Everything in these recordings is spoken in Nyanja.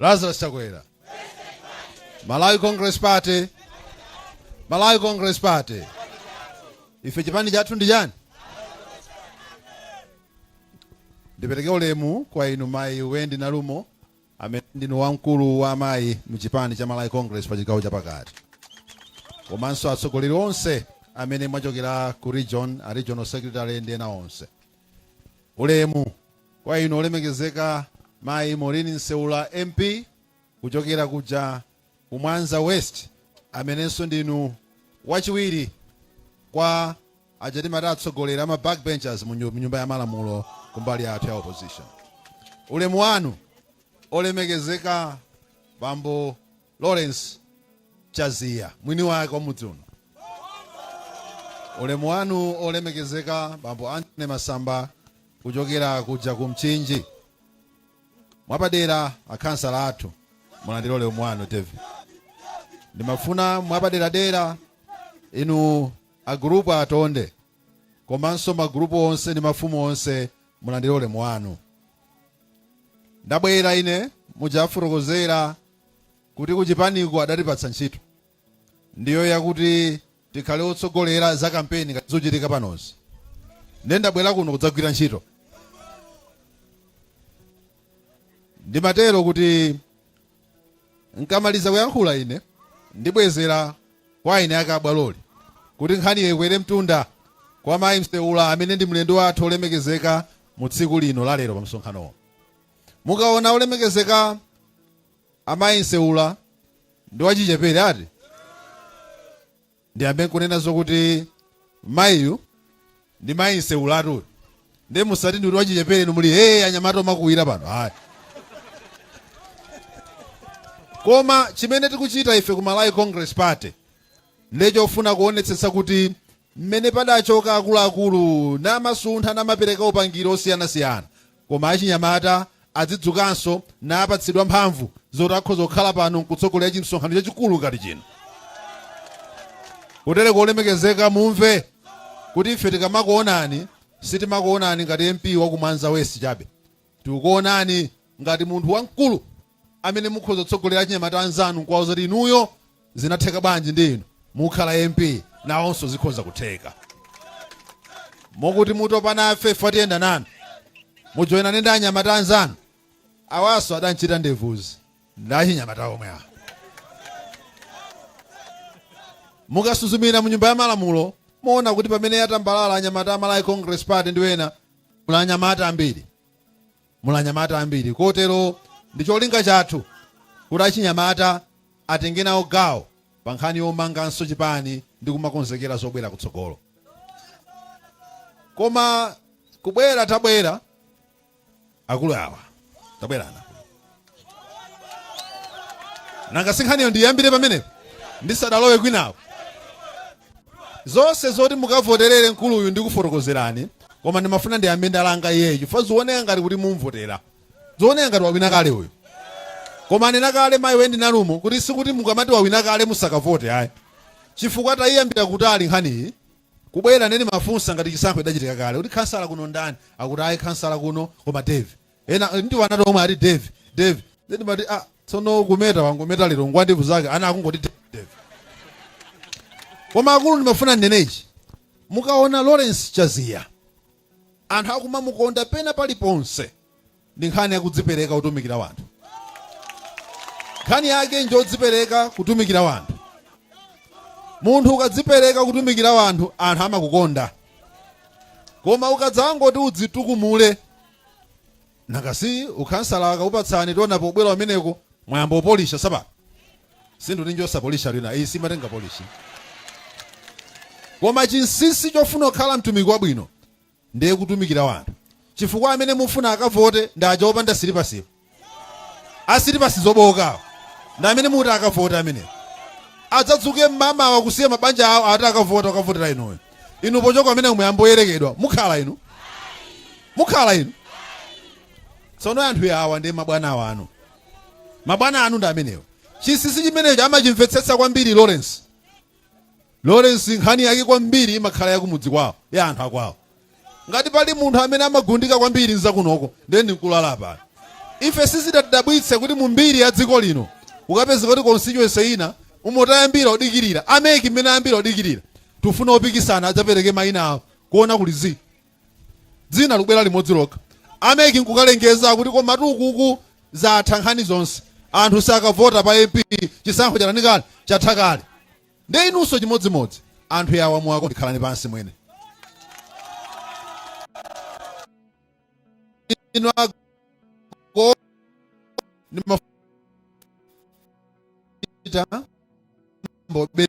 Lazarus Chakwera. Malawi Congress Party. Malawi Congress Party. Ife chipani chathu ndi chani? Ndipereke ulemu kwa inu mayi Wendi Nalumo amene ndinu wamkulu wa amayi mu chipani cha Malawi Congress pa chigawo chapakati. Komanso atsogoleri onse amene mwachokera ku regional secretary ndi ena onse. Ulemu Kwa inu olemekezeka mayi Maureen Nseula MP kuchokera kuja ku Mwanza West amenenso ndinu wachiwiri kwa aja timati atsogoleri ama backbenchers mu nyumba ya malamulo kumbali yathu ya opposition. Ulemu wanu olemekezeka bambo Lawrence Chaziya mwini wake wa mudzi uno. Ulemu wanu olemekezeka bambo Anthony Masamba kuchokera kuja ku Mchinji. Mwapadera akhansala athu mulandire ulemu wanu David. Ndimafuna mwapaderadera inu agrupu atonde komanso magrupu onse ndi mafumu onse mulandire ulemu wanu. Ndabwera ine muja afotokozera kuti kuchipaniko adatipatsa ntchito ndiyo yakuti tikhale otsogolera za kampeni ngati zochitika panozi ndiye ndabwera kuno kudzagwira ntchito ndimatero kuti nkamaliza kuyankhula ine ndibwezera kwa eni ake abwaloli kuti nkhaniyo ikwere mtunda kwa mayi Nseula amene ndi mlendo wathu olemekezeka mu tsiku lino lalero pa msonkhanowo Mukaona olemekezeka amayi Nseula ndi wachichepere ati ndiyambe nkunena zokuti mayiyu ndi mayi Nseula atu ndiye musati ndikuti wachichepere inu muli hey anyamata omakuwira pano ayi koma chimene tikuchita ife ku Malawi Congress Party nde chofuna kuonetsetsa kuti mmene padachoka akuluakulu namasuntha namapereka upangiri osiyanasiyana koma achinyamata azidzukanso napatsidwa mphamvu zoti akhoza kukhala pano nkutsogolera chimsonkhano chachikulu ngati chino kutereko olemekezeka mumve kuti ife tikamakuonani sitimakuonani ngati mp wakumwanza west chabe Tikuonani ngati munthu wamkulu amene mukhoza kutsogolera achinyamata anzanu n'kuwauza kuti inuyo zinatheka bwanji ndi inu mukukhala MP nawonso zikhoza kutheka. Mokuti mutopa nafe chifukwa tiyenda nanu, mujoinane ndi anyamata anzanu. Awanso adam'chita ndevuzi ndi achinyamata omwe awa. Mukasuzumira mu Nyumba ya Malamulo muona kuti pamene yatambalala anyamata a Malawi Congress Party ndi ena muli anyamata ambiri muli anyamata ambiri kotero ndi cholinga chathu kuti achinyamata atenge nawo gawo pa nkhani yomanganso chipani ndi kumakonzekera zobwera kutsogolo koma kubwera tabwera akulu awa tabwera nanga si nkhaniyo ndiyambire pamenepo ndisadalowe kwinawo zonse zoti mukavoterere mkuluyu ndikufotokozerani koma ndimafuna ndiyambe ndalanga iyeyo chifukwa zioneka ngati kuti mumvotera zioneka ngati wawina kale uyu koma anena kale mayi wendi nalumo kuti sikuti mukamati wawina kale musakavote ayi chifukwa tayiyambira kutali nkhaniyi Kubwera ndiye ndimafunsa ngati chisankho chidachitika kale kuti khansala kuno ndani akuti ayi khansala kuno koma Dave ena ndi wanatu omwe ati Dave Dave ndiye ndimati ah tsono kumeta wangometa lero ngwa ndevu zake ana akungoti Dave Dave koma akulu ndimafuna ndinene ichi mukaona Lawrence Chaziya Anthu akumamukonda pena paliponse ndi nkhani yakudzipereka kutumikira wanthu. Nkhani yake njodzipereka kutumikira wanthu. Munthu ukadzipereka kutumikira wanthu, anthu amakukonda. Koma ukadzangoti udzitukumule, nanga si ukhansala akakupatsani tiona pobwera umeneko, mwayamba opolisha sapato. Sinthu tinjosa polish atu ina. Iyi simatenga polish. Koma chinsinsi chofuna kukhala mtumiki wabwino ndiye kutumikira wanthu. Chifukwa amene mufuna akavote ndi aja opanda silipasiwo. Asilipasi zobowokawo. Ndi amene muti akavote ameneko. Adzadzuke mmamawa kusiya mabanja awo ati akavote akavotere inuyo. Inu pochoka ameneko muyamboyerekedwa mukhala inu. Mukhala inu. Tsono anthu awa ndi mabwana wanu. Mabwana anu ndi amenewo. Chinsinsi chimenecho amachimvetsetsa kwambiri Lawrence. Lawrence nkhani yake kwambiri imakhala yakumudzi kwawo, ya anthu akwawo. Ngati pali munthu amene amagundika kwambiri ndi zakunoko, ndiye ndi mkulu ali apa. Ife sizidatidabwitse kuti mu mbiri ya dziko lino ukapeza kuti constituency ina umo tayambira odikirira a MEC mmene ayambira odikirira tufuna opikisana adzapereke mayina awo kuona kuli zii dzina likubwera limodzi lokha a mec nkukalengeza kuti koma tu kuku zatha nkhani zonse anthu sakavota pa mp chisankho chatani kale chatha kale nde inunso chimodzimodzi anthu yawa muwakonde khalani pansi mwene inu ago ni mafita mbobe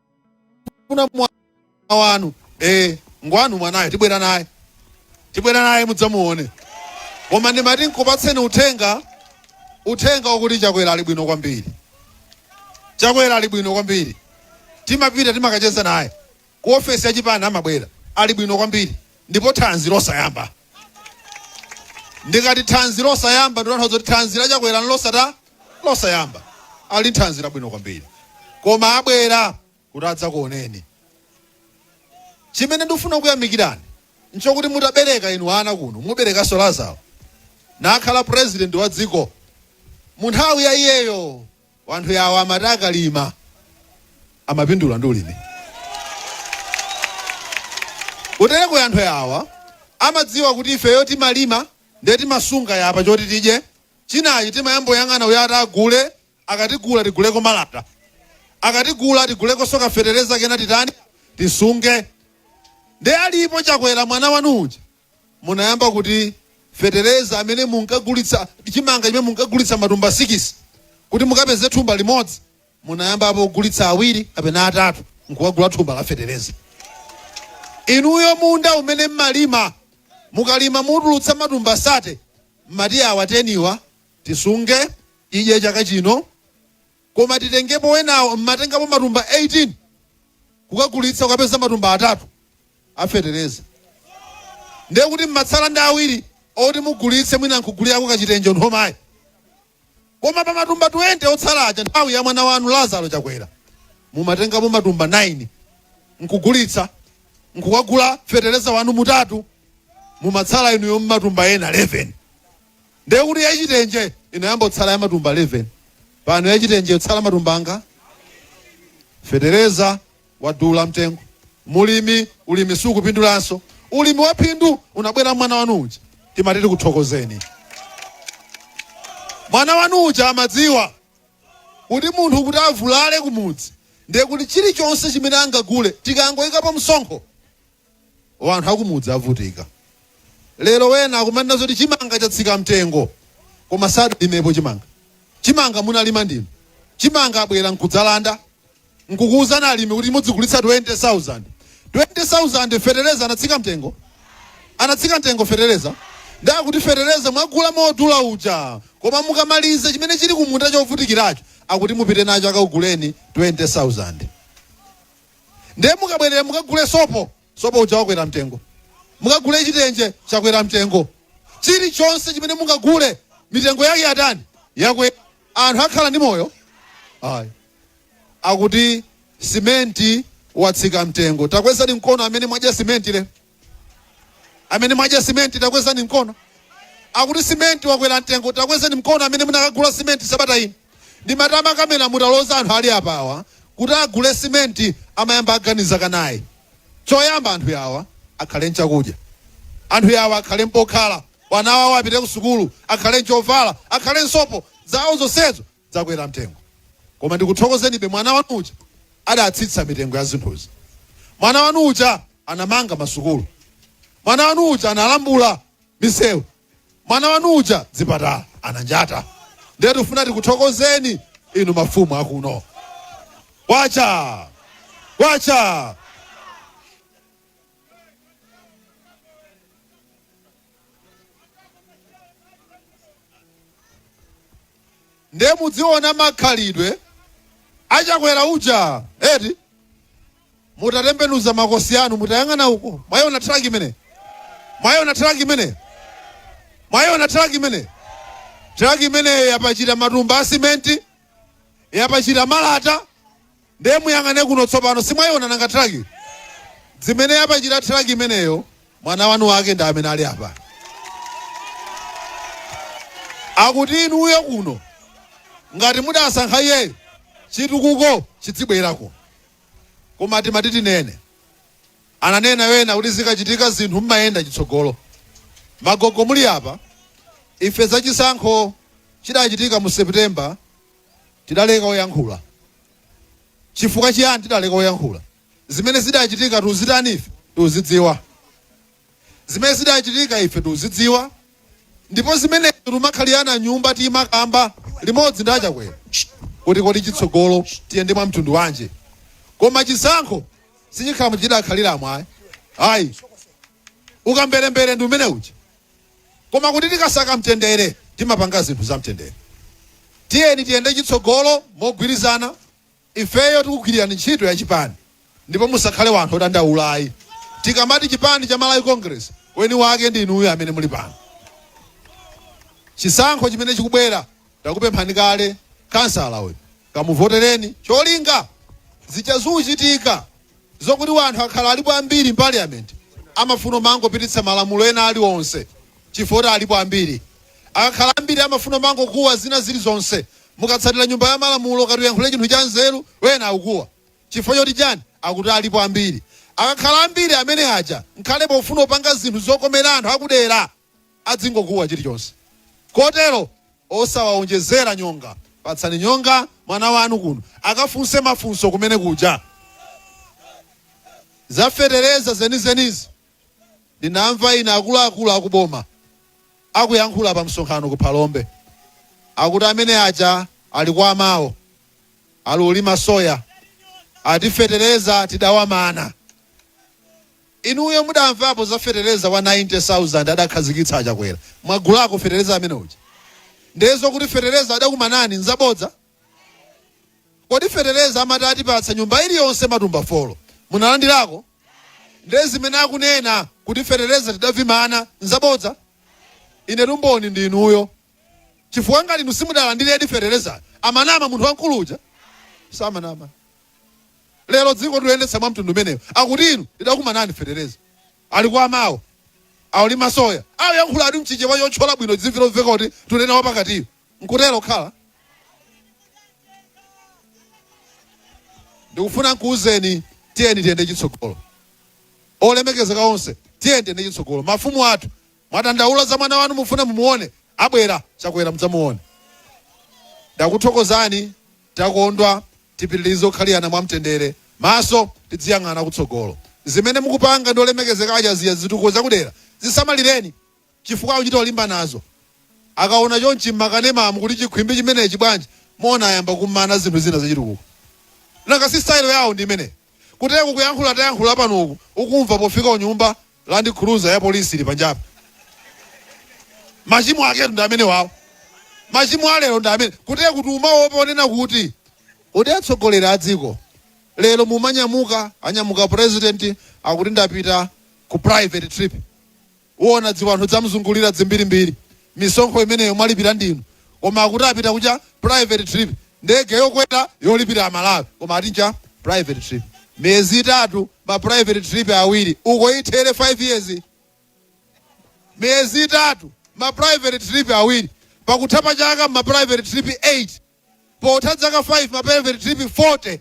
mukufuna mwana wanu eh ngwanu mwanayo tibwera naye tibwera naye mudzamuone koma ndimati nkupatseni uthenga uthenga wakuti chakwera ali bwino kwambiri chakwera ali bwino kwambiri timapita timakacheza naye ku ofesi ya chipani amabwera ali bwino kwambiri ndipo thanzi losayamba ndikati thanzi losayamba ndikutanthauza kuti thanzi la chakwera nlosat losayamba ali ndi thanzi labwino kwambiri koma abwera kuti adzakuoneni chimene ndikufuna kuyamikirani nchokuti mutabereka inu wana kuno muberekanso lazaro nakhala president wa dziko mu nthawi ya iyeyo Wanthu yawa amati akalima amapindula ndi ulimi. Kutereko wanthu yawa amadziwa kuti ifeyo timalima ndiye timasunga apa choti tidye, chinachi timayamboyang'ana uyo ati agule, akatigula tiguleko malata, akatigula tigulekonso kafetereza kena titani tisunge. Ndiye alipo Chakwera mwana wanu uja Munayamba kuti fetereza amene munkagulitsa chimanga chimene munkagulitsa matumba sikisi, kuti mukapeze thumba limodzi, munayambapo kugulitsa awiri kapena atatu n'kukagula thumba la fetereza? Inuyo munda umene m'malima, mukalima mutulutsa matumba sate, m'mati awa teniwa tisunge tidye chaka chino, Koma titengepo wenawo mmatengapo matumba 18 kukagulitsa kukapeza matumba atatu a fetereza ndiye kuti mmatsala ndi awiri oti mugulitse mwina nkugulirako kachitenje cha amayi. Koma pa matumba 20 otsala aja nthawi ya mwana wanu Lazaro Chakwera mumatengapo matumba 9 nkugulitsa nkukagula fetereza wanu utatu mumatsala inuyo ndi matumba ena 11. Ndiye kuti ya chitenje inayamba kutsala ya matumba 11. Pano ya chitenje ikutsala matumba angati? Fetereza wadula mtengo. Mulimi, ulimi sukupindulanso. Ulimi wa phindu unabwera mwana wanu uja. Timati tikuthokozeni. Mwana wanu uja amadziwa kuti munthu kuti avulale kumudzi ndiye kuti chilichonse chimene angagule tikangoyikapo msonkho Wanthu akumudzi avutika lero wena akumanena zoti chimanga chatsika mtengo koma sadalimepo chimanga. Chimanga munalima ndinu? Chimanga abwera nkudzalanda nkukuuzani alimi kuti mudzigulitsa 20,000. 20,000 fetereza anatsika mtengo? Anatsika mtengo fetereza? Ndiye akuti fetereza mwagula modula uja koma mukamaliza chimene chili kumunda chovutikiracho akuti mupite nacho akakuguleni 20,000. Ndiye mukabwerera mukagule sopo, sopo uja wakwera mtengo. Mukagule chitenje, chakwera mtengo. Chilichonse chimene mungagule, mitengo yake yatani? Yakwera. Anthu akhala ndi moyo? Ayi. Akuti simenti watsika mtengo. Takwezani mkono amene mwadya simenti lero. amene mwadya simenti takwezani mkono akuti simenti wakwera mtengo takwezani mkono amene munakagula simenti sabata ino ndi matama kamene mutaloza anthu ali apawa kuti agule simenti amayamba aganiza kanaye choyamba anthu yawa akhale nchakudya anthu yawa akhale mpokhala wana wawo apite ku sukulu akhale nchovala akhale nsopo zawo zonsezo zakwera mtengo koma ndikuthokozenibe mwana wanu uja adatsitsa mitengo ya zinthuzi mwana wanu uja anamanga masukulu mwana wanu uja analambula misewu mwana wanu uja zipatala ananjata ndiye tifuna tikuthokozeni inu mafumu akuno wacha wacha nde mudziona makhalidwe achakwera uja eti mutatembenuza makosi anu mutayang'ana uko mwaiona traki imene mwaiona traki imene mwaiona traki imene traki imeneyo yapachita matumba a simenti yapachita malata Ndiye muyang'ane kuno tsopano. Simwaiona nanga traki? Zimene yapachita traki imeneyo, mwana wanu wake ndi amene ali apa. Akuti inuyo kuno, ngati mudasankha iye, chitukuko chidzibwerako. Koma timati tinene, ananena ena kuti zikachitika zinthu mmayenda chitsogolo. Magogo muli apa, ife za chisankho chidachitika mu September tidaleka kuyankhula. Chifukwa chiyani tidaleka kuyankhula? Zimene zidachitika tuzitani ife? Tuzidziwa. Zimene zidachitika ife tuzidziwa. Ndipo zimenezo tumakhalirana nyumba timakamba limodzi ndi a Chakwera kuti kodi chitsogolo tiyende mwa mtundu wanji. Koma chisankho sichikhala muja chidakhaliramo ayi. Ayi. Ukamberembere ndi umene uja. Koma kuti tikasaka mtendere, timapanga zinthu za mtendere. Tiyeni tiyende chitsogolo mogwirizana. Ifeyo tikugwirirani ntchito ya chipani ndipo musakhale wanthu odandaula ayi. Tikamati chipani cha Malawi Congress, weni wake ndi inuyo amene muli pano. Chisankho chimene chikubwera, takupemphani kale, khansala uyu, kamuvotereni cholinga zija zichitika Zokuti wanthu akhala alipo ambiri mpaliyament amafuna umangopititsa malamulo ena aliwonse chifukwa kuti alipo ambiri. Akakhala ambiri amafuna umangokuwa zina zilizonse. Mukatsatira nyumba yamalamulo ukati uyankhule chinthu chanzeru wena akukuwa chifukwa choti chani akuti alipo ambiri. Akakhala ambiri ameneaja nkhale pofuna upanga zinthu zokomera anthu akudera. adzingokuwa chilichonse. Kotero osawaonjezera nyonga. Patsani nyonga mwana wanu kuno akafunse mafunso kumene kuja. Za fetereza zenizenizi ndinamva ina akuluakulu akuboma akuyankhula pa msonkhano ku Phalombe. Akuti amene aja ali kwa amawo akulima soya ati fetereza tidawamana. Inuyo mudamvapo za fetereza wa 90,000 adakhazikitsa a Chakwera? Mwagulako fetereza amene uja? Ndiye zokuti fetereza adakumanani nzabodza? Kodi fetereza amati atipatsa nyumba iliyonse matumba folo munalandirako? Ndiye zimene akunena kuti fetereza tidawamana nzabodza? Inetu mboni ndi inuyo chifukwa ngati inu simudalandiredi feterezayo, amanama munthu wamkulu uja? Samanama. lero dziko tuyendetsa mwa mtundu umenewu akuti inu ndidakumanani fetereza ali kwa amawo akulima soya ayankhula ati mchichewa chotchola bwino dzimvi lomveka kuti tunena wapakatiyo nkutero khala ndikufuna nkuuzeni tiyeni tiyende chitsogolo olemekezeka onse tiyeni tiyende chitsogolo mafumu athu mwadandaula za mwana wanu mufuna mumuone abwera chakwera mudzamuone ndakuthokozani takondwa Tipitilize kukhalirana mwa mtendere maso tidziyang'ana kutsogolo. Zimene mukupanga ndi olemekezeka aja zija zitukuko zakudera zisamalireni chifukwa akuchita kulimbanazo. Akaona chonchi mmakanemamu kuti chikhwimbi chimenechi bwanji muona ayamba kumana zinthu zina zachitukuko. Nanga si style yawo ndi imeneyo? Kutereku kuyankhula tayankhula pano uku ukumva pofika kunyumba Land Cruiser ya police ili panjapa. Machimo aketu ndi amenewawo. Machimo a lero ndi amene. Kutere kuti umaopa unena kuti kodi atsogoleri a dziko lero mumanyamuka anyamuka president akuti ndapita ku private trip. Uona dziwanthu dzamzungulira dzimbirimbiri. misonkho imeneyo mwalipira ndinu koma akuti apita kucha private trip ndege yokwera yolipira amalawi koma ati ncha private trip miyezi itatu ma private trip awiri uko ithere 5 years miyezi itatu ma private trip awiri pakutha pa chaka ma private trip 8 Potha dzaka 5 ma private trip 40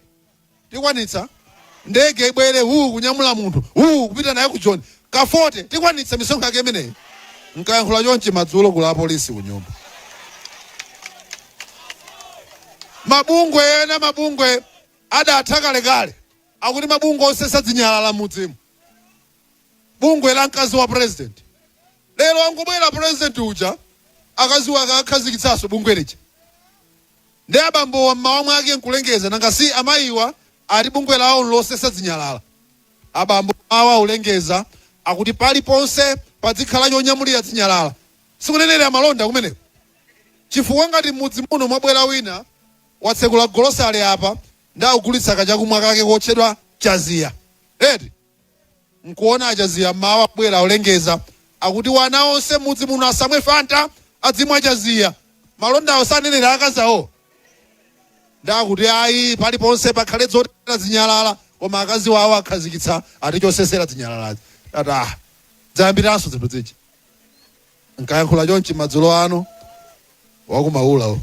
tikwanitsa. Ndege ibwere huu kunyamula munthu huu kupita naye ku Joni ka 40 tikwanitsa misonkho yake imeneyi. Mkayankhula chonchi madzulo kuli apolisi kunyumba. Mabungwe ena mabungwe adatha kalekale akuti mabungwe osesa dzinyalala mmudzimu. bungwe la mkazi wa president lero angobwera president uja akazi wake akhazikitsanso bungwe lija ndi abambowa mmawa mwake nkulengeza nanga si amayiwa ati bungwe lawo nlosesa zinyalala abambo awa akulengeza akuti paliponse padzikhala chonyamulira zinyalala sikunenera malonda kumeneko chifukwa ngati m'mudzi muno mwabwera wina watsekula golosale apa ndi akugulitsa kachakumwa kake kotchedwa chaziya eti Nkuona achaziya mmawa abwera akulengeza akuti wana onse mmudzi muno asamwe fanta adzimwa chaziya. Malondawo sanenera akazi awowo? Nde akuti ayi paliponse pakhale dzotayira zinyalala koma akaziwo awo akhazikitsa ati chosesera dzinyalaladzi. Ndati aah dzayambiranso zinthu dzija. Nkayankhula chonchi madzulo ano, wa ku Maula uyo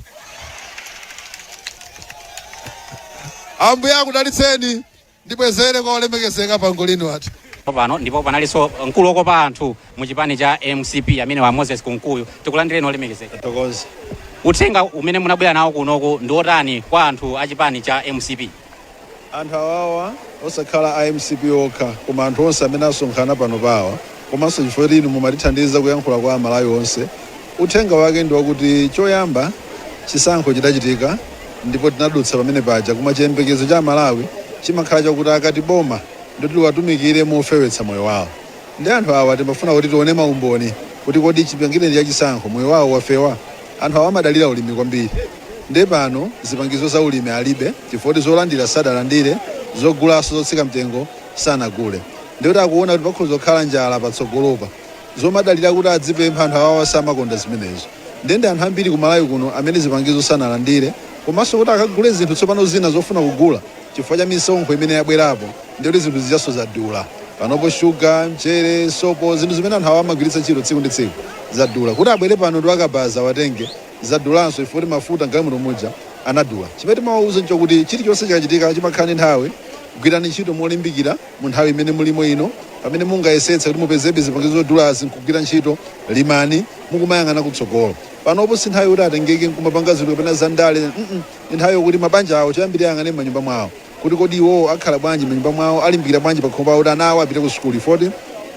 Ambuye akudalitseni. Ndibwezere kwa olemekezeka pa ngolini wathu. pano ndipo panalinso mkulu wokopa anthu mu chipani cha mcp amene ndi a moses kunkuyu tikulandireni olemekezeka tathokoza uthenga umene munabwera nawo kunoko ndi otani kwa anthu a chipani cha mcp Anthu awawa osakhala a mcp okha koma anthu onse amene asonkhana panopawa komanso chifukwa choti inu mumatithandiza kuyankhula kwa amalawi onse uthenga wake ndi wakuti choyamba chisankho chidachitika ndipo tinadutsa pamene paja koma chiyembekezo cha amalawi chimakhala chakuti akati boma ndiloti liwatumikire mofewetsa moyo wawo nde anthu awa timafuna kuti tione maumboni kuti kodi chipangireni cha chisankho moyo wawo wafewa? Anthu awa amadalira ulimi kwambiri nde pano zipangizo za ulimi alibe chifukwa choti zolandira sadalandire, zogulaso zotsika mtengo sanagule ndekuti akuona kuti pakhoza kukhala njala patsogolopa. Zomadalira kuti adzipempha anthu awawa samakonda zimenezo nde ndi anthu ambiri ku Malawi kuno amene zipangizo sanalandire komaso kuti akagule zinthu tsopano zina zofuna kugula. chifukwa cha misonkho imene yabwerapo ndiye kuti zinthu zijanso zadula. Panopo shuga, mchere, sopo, zinthu zimene anthu awa amagwiritsa ntchito tsiku ndi tsiku zadula. Kuti abwere pano ndi akabaza awatenge, zadulanso chifukwa choti mafuta m'galimoto muja anadula. Chimene timawauza n'chakuti chilichonse chikachitika chimakhala ndi nthawi. Gwirani ntchito molimbikira mu nthawi imene mulimo ino. Pamene mungayesetse kuti mupezebe zipangizo zodulazi n'kugwira ntchito, limani mukumayang'ana kutsogolo. Panopo si nthawi yoti atengeke n'kumapanga zinthu kapena zandale, mm. Ndi nthawi yokuti mabanja awo choyambirira ayang'ane m'manyumba mwawo kuti kodi iwowo akhala bwanji m'manyumba mwawo, alimbikira bwanji pakhomo pawo kuti ana awo apite kusukulu chifukwa kuti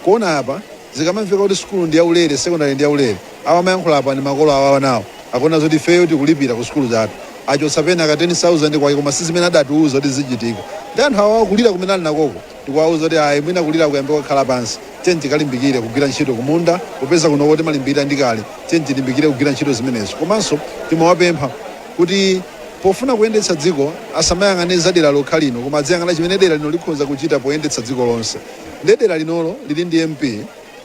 kuona apa, zikamamveka kuti sukulu ndi yaulere, sekondale ndi yaulere, awo amayankhula apa ndi makolo awo a anawo, akuona zoti ifeyo tikulipira kusukulu zathu, achotsa pena ka 10,000 kwake koma si zimene adatiuza kuti zizichitika. Ndiye anthu awawa kulira kumene ali nakoku tikuwauza kuti ayi mwina kuliraku kuyambe kukhala pansi, tiyeni tikalimbikire kugwira ntchito kumunda popeza kunoko timalimbikira ndi kale, tiyeni tilimbikire kugwira ntchito zimenezo. Komanso timawapempha. kuti pofuna kuyendetsa dziko asamayang'ane za dera lokha lino koma adziyang'ana chimene dera lino likhoza kuchita poyendetsa dziko lonse nde dera linolo lili ndi mp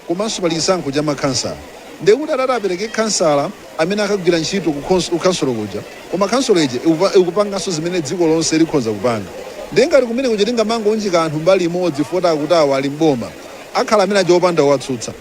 komanso pali chisankho cha makhansala nde kuti atate apereke khansala amene akagwira ntchito ku khons- ku khansolo kuja koma khansolo ija ikupa- ikupanganso zimene dziko lonse likhonza kupanga ndiye ngati kumene kuja tingamangounjika anthu mbali imodzi foti akuti awa ali mboma akhala amene aja opanda owatsutsa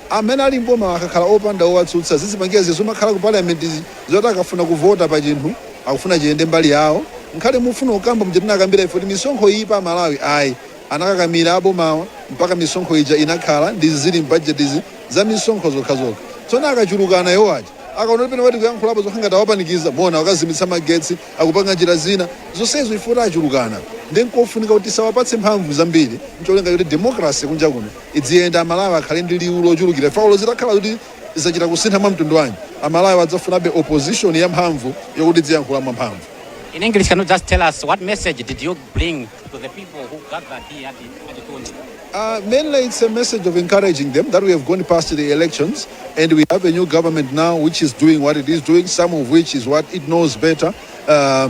Amene ali m'bomawa akakhala opanda owatsutsa zizipangira zija zimakhala ku parliament zoti akafuna kuvota pa chinthu akufuna chiyende mbali yawo nkhani mufuna kukamba muja tinakamba ife kuti misonkho iyipa amalawi ayi anakakamira abomawa mpaka misonkho ija inakhala ndi zili mbudget zi za misonkho zokhazokha tsono akachulukana iwo aja akaona kuti pena pati tikuyankhulapo zokhala ngati awapanikiza muona akazimitsa magetsi akupanga njira zina zonsezo chifukwa choti achulukana nde nkofunika kuti tisawapatse mphamvu zambiri ncholinga choti democracy kunja kuno Idziyenda Amalawi akhale ndi liwu lochulukira chifukwa olo zitakhala kuti zachita kusintha mwa mtundu wanji, Amalawi adzafunabe opposition ya mphamvu yokuti idziyankhula mwa mphamvu. In English, can you just tell us what message did you bring to the people who gathered here at, at Tundi? Uh, mainly it's a message of encouraging them that we have gone past the elections and we have a new government now which is doing what it is doing, some of which is what it knows better. Uh,